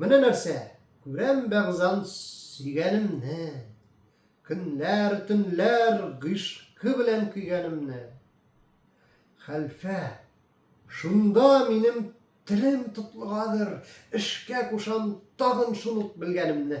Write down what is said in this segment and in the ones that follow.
Менә нәрсә, күрәм бәгъзан сөйгәнемне, Көнләр, төнләр гыйшкы белән көйгәнемне. Хәлфә, шунда минем телем тотлыгадыр, Эшкә кушам тагын шул ук белгәнемне.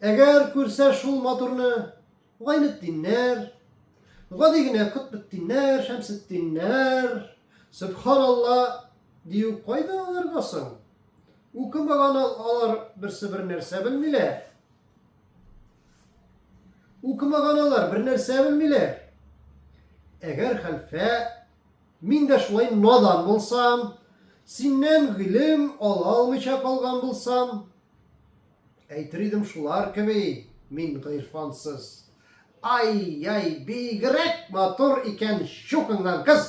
Әгәр күрсә шул матурны Гайнетдиннәр, гади генә Котбетдиннәр, Шәмсетдиннәр, Сөбханалла дию кайда аларга соң? Укымаган алар берсе бер нәрсә белмиләр. Укымаган алар бер нәрсә белмиләр. Әгәр хәлфә мин дә шулай надан булсам, синнән гыйлем ала алмыйча калган булсам, Әйтер идем шулар кеби, мин гыйрфансыз. Ай-яй, бигрәк матур икән щукыңнан кыз!